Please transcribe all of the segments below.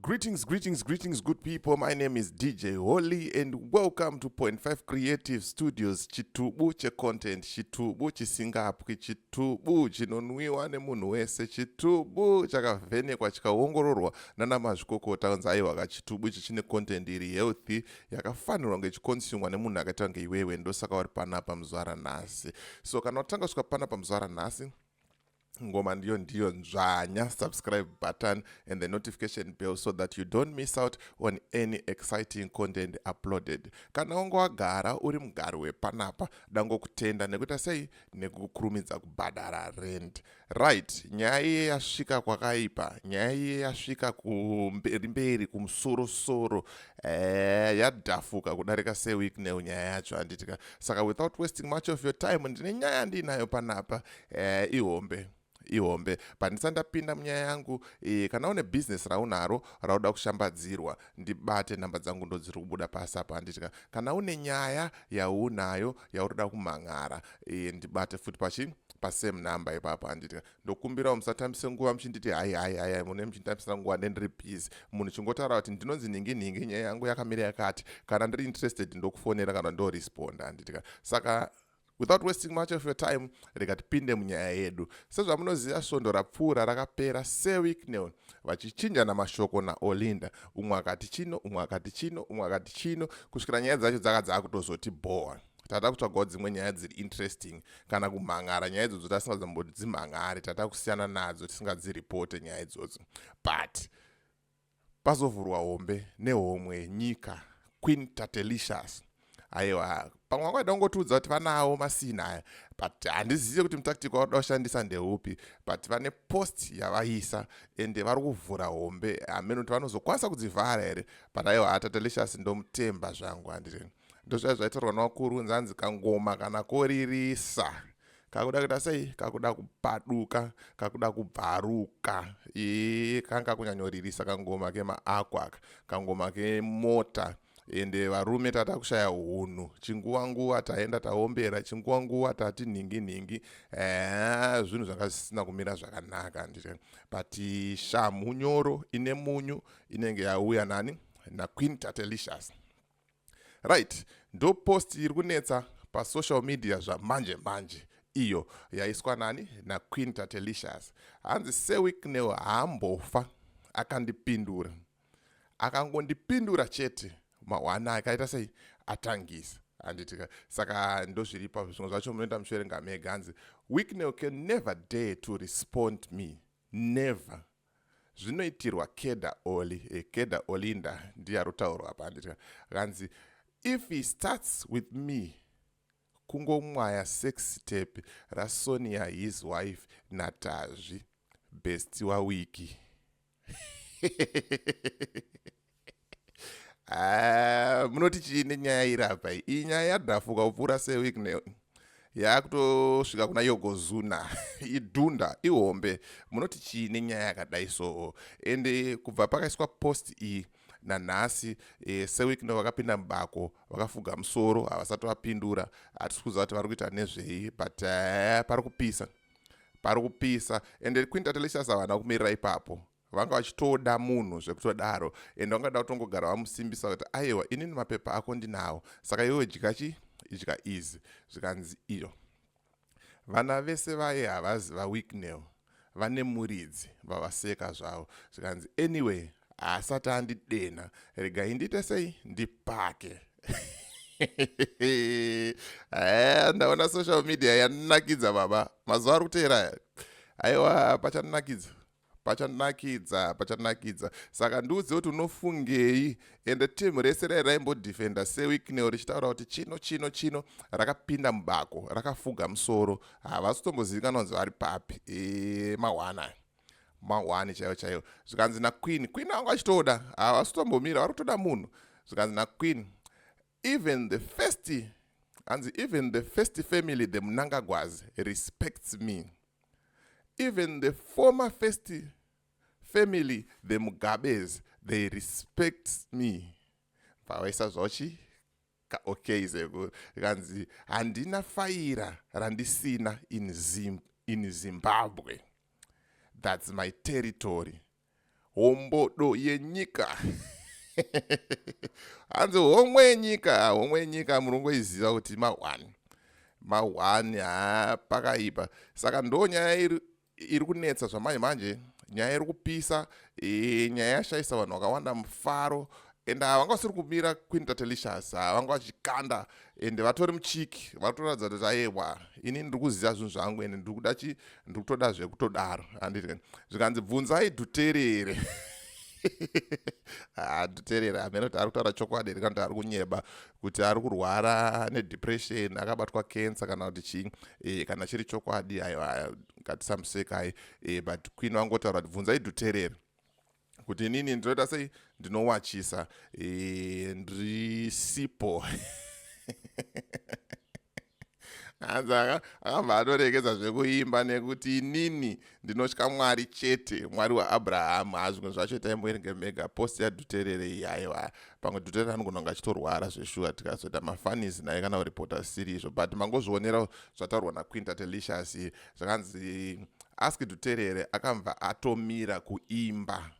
Greetings, greetings, greetings, good people. My name is DJ Holy, and welcome to Point Five Creative Studios. Chitubu che content, chitubu chisingapwi, chitubu chinonwiwa nemunhu wese, chitubu chakavhenekwa chikaongororwa nana mazvikokota kunzi aiwa ka chitubu ichi chine content iri healthy yakafanirwa kunge ichikonsumwa nemunhu akaita kunge iwewe. Ndosaka uri panapa muzvara nhasi. So kana watanga kusvika panapa muzvara nhasi ngoma ndiyo ndiyo nzvanya subscribe button and the notification bell so that you don't miss out on any exciting content uploaded kana wanga wagara uri mugari wepanapa dangokutenda nekuita sei nekukurumidza kubhadhara rent right nyaya iye yasvika kwakaipa nyaya iye yasvika kumberi mberi kumusorosoro eh, yadhafuka kudarika seweek new nyaya yacho handitika saka without wasting much of your time ndine nyaya ndiinayo panapa Eh, ihombe ihombe pandisa ndapinda munyaya yangu e, kana une bhizinesi raunaro rauda kushambadzirwa ndibate nhamba dzangu ndo dziri kubuda pasi apa handitika kana une nyaya yaunayo yauroda kumhan'ara e, ndibate futi pachi pasame number ipapo handitika ndokumbirawo musatambise nguva muchinditi hai hai hai hai mune muchinditambisira nguva ndendiri busy munhu chingotaura kuti ndinonzi nhingi nhingi nyaya yangu yakamira yakati kana ndiri interested ndokufonera kana ndoresponda handitika saka Without wasting much of your time, rega tipinde munyaya yedu. Sezvamunoziva svondo rapfuura rakapera Sir Wicknell vachichinjana mashoko naOlinda. Umwe akati chino, umwe akati chino, umwe akati chino, kusvikira nyaya dzacho dzaka dzakutozoti bhowa. Tata kutsvagawo dzimwe nyaya dziri interesting kana kumhan'ara nyaya idzodzo tasingadzamboti dzimhan'are tata kusiyana nadzo tisingadziripote nyaya idzodzo but pazovhurwa hombe nehomwe yenyika queen tatelicious aiwa pamwe wakaida kungotiudza kuti vanawo masini aya but handizive kuti mutactic wakuda kushandisa ndeupi but vane post yavaisa ende vari kuvhura hombe hameno kuti vanozokwanisa kudzivhara here but aiwa atatelicious ndomutemba zvangu handiri ndozvaiva zvaitaurwa navakuru nzanzi kangoma kana koririsa kakuda kuita sei kakuda kupaduka kakuda kubvaruka ee kanga kunyanyoririsa kangoma kemaako aka kangoma kemota ende varume tata kushaya hunhu chinguva nguva taenda taombera chinguva nguva tati nhingi nhingi ee zvinhu zvanga zvisina kumira zvakanaka ndite but shamhu nyoro ine munyu inenge yauya nani naqueen tatelicious right ndo post iri kunetsa pasocial media zvamanje manje iyo yaiswa nani naqueen tatelicious hanzi sewicknel haambofa akandipindura akangondipindura chete mahwana akaita sei atangisa handitika saka ndozviripa zvimwe zvacho munoenda muchiverenga mega hanzi wicknel can never dare to respond me Never. Zvinoitirwa Keda Oli. Eh, Keda Olinda ndiye arotaurwa apa handitya. Kanzi if he starts with me kungomwaya sex step rasonia his wife natazvi best wawiki Ah, munoti chii nenyaya iri apa iyi nyaya yadhafuka kupfuura sewik ne yaakutosvika kuna yogozuna idhunda ihombe munoti chii nenyaya yakadai soo ende kubva pakaiswa post iyi nanhasi e, sewik no vakapinda mubako vakafuga musoro havasati vapindura hatisi kuziva kuti vari kuita nezvei but uh, pari kupisa pari kupisa ende quinta telicious havana kumirira ipapo vanga vachitoda munhu zvekutodaro and vangada kutongogara vamusimbisa kuti aiwa inini mapepa ako ndinawo saka iwewe dya chi idya easy zvikanzi iyo vana vese vaye havazi vawicknell vane muridzi vavaseka zvavo zvikanzi anyway haasati andidenha regai ndiite sei ndipake eh, ndaona social media yanakidza baba mazuva ari kuteera aiwa pachanakidza pachanakidza pachanakidza saka ndiudze kuti unofungei ende team rese rai raimbodefenda sewicknel richitaura kuti chino chino chino rakapinda mubako rakafuga musoro havasi kutombozivikanwa kunzi vari papi e, mahwana mahwani chaiyo chaiyo zvikanzi naqueen queen angu achitoda havasi kutombomira vari kutoda munhu zvikanzi naqueen Even the first hanzi even the first family the munangagwazi respects me even the former first family the mugabes they respect me pavaisa zvochi okay zeko kanzi handina faira randisina in, Zim, in zimbabwe that's my territory hombodo yenyika hanzi homwe yenyika homwe yenyika murongoiziva kuti mahwani mahwani ha pakaipa saka ndo nyaya iri, iri kunetsa zvamanje manje nyaya iri kupisa e, nyaya yashaisa vanhu vakawanda mufaro and ava vanga vasiri kumira queen tatelicious ava vanga vachikanda ende vatori muchiki vatoratidza kuti ayewa ini ndiri kuziva zvinhu zvangu ende ndiri kuda chi ndiri kutoda zvekutodaro anditi zvikanzi bvunzai dhuterere adhuterera amene kuti ari kutaura chokwadi here kana kuti ari kunyeba kuti ari kurwara nedepression akabatwa cancer kana kuti chii e, kana chiri chokwadi aiwa ngatisamusekai e, but queen vangotaura kuti bvunzai dhuterera kuti inini ndinoita sei ndinowachisa eh, ndisipo hanzi akabva atoregedza zvekuimba nekuti inini ndinotya mwari chete mwari waabrahamu hazvimwe zvacho taimboerenge mega post yaduterere iyi aiwa pamwe duterere anogona kunge achitorwara zveshuwa tikazoita mafanis naye kana kuripota siri izvo but mangozvionera zvataurwa naquinta telicious zvakanzi ask dhuterere akabva atomira kuimba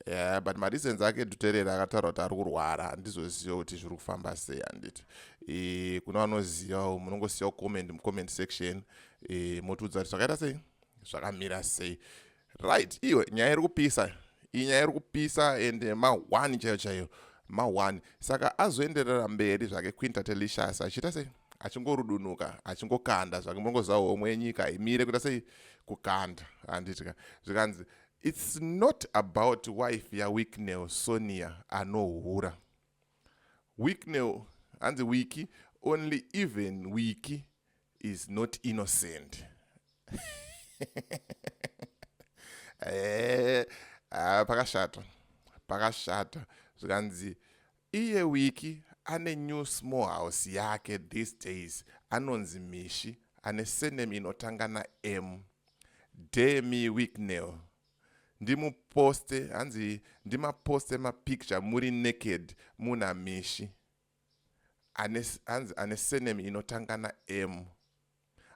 yeah, but mareasons ake dhuterere akataura kuti ari kurwara handizoziva kuti zviri kufamba sei handiti e, kuna vanozivawo munongosiyawo comment mucomment section e, motiudza kuti zvakaita sei zvakamira sei right iyo nyaya iri kupisa iyi nyaya iri kupisa and mahwani chaiyo chaiyo mahwani saka azoenderera mberi zvake quinta telicious achiita sei achingorudunuka achingokanda zvake mongoziva homwe yenyika imire kuita sei kukanda handitya zvikanzi its not about wife yawicknel sonia anohura wicknel hanzi wiki only even wiki is not innocent eh, ah, pakashata pakashata zvikanzi Iye Wiki ane new small house yake these days anonzi Mishi ane surname inotanga na M. Dare me Wicknell. Ndimuposte hanzi ndimaposte mapicture muri naked muna Mishi. Ane hanzi ane surname inotanga na M.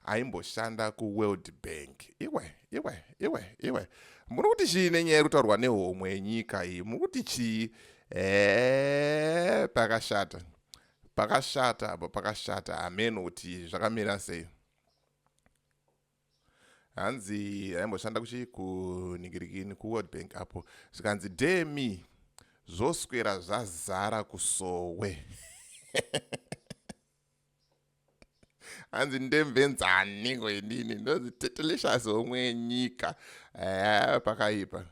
aimboshanda kuworld bank iwe iwe iwe iwe muri kuti chii nenyaya iri kutaurwa nehomwe yenyika iyi muri kuti chii ee pakashata pakashata apa pakashata hameno kuti zvakamira sei hanzi aimboshanda kuchii kuningirikini kuworld bank apo zvikanzi demi zvoswera zvazara kusowe hanzi ndemvenzani ngo inini ndonzi tetelicious homwe yenyika haa pakaipa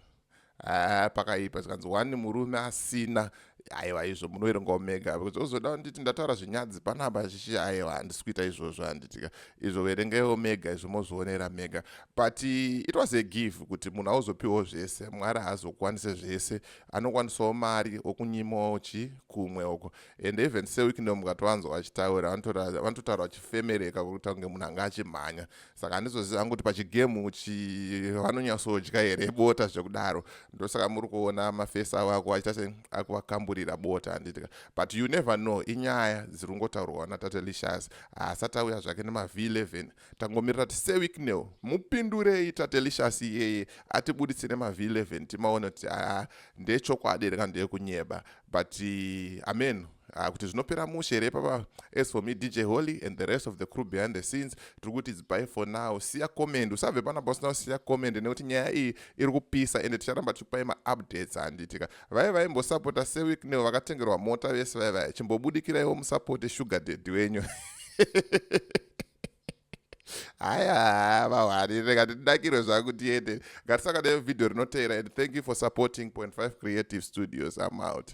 haa pakaipa zvikanzi wani murume asina aiwa izvo munoerenga omega bcause ozoda kunditi ndataura zvinyadzi panapa chichi aiwa handisi kuita izvozvo handitika izvo verengai omega izvo mozvionera mega but it was a give kuti munhu auzopiwawo zvese mwari haazokwanise zvese anokwanisawo mari okunyimochi kumwe uko and even seweek ndo mukatovanzwa vachitaura vanototaura vachifemereka kuita kunge munhu anga achimhanya saka handizozivi hangu kuti pachigemu vanonyatsodya here bota zvekudaro ndosaka muri kuona mafesi avo ako achiita se akuvakamburira bota handitika but you never know inyaya dziri kungotaurwa natate lishas haasati auya zvake nemavhi 11 Tangomirira tise Wicknell mupindurei Tatelicious iyeye atibuditse nema V11 timaone kuti haa ndechokwadi here kana ndeyekunyeba but eh, amen uh, kuti zvinopera mushe here papa as for me dj holy and the rest of the crew behind the scenes tiri kuti it's by for now siya comment usabve panapa usina kusiya comment nekuti nyaya iyi iri kupisa ende ticharamba tichikupai maupdates handitika vaive vaimbosapota sewicknel vakatengerwa mota vese vaive vachimbobudikiraiwo musapote sugar daddy wenyu haya vahwani rega ndidakirwe zvangu tiende ngatisaka nevhidhiyo rinoteera and thank you for supporting 5 creative studios i'm out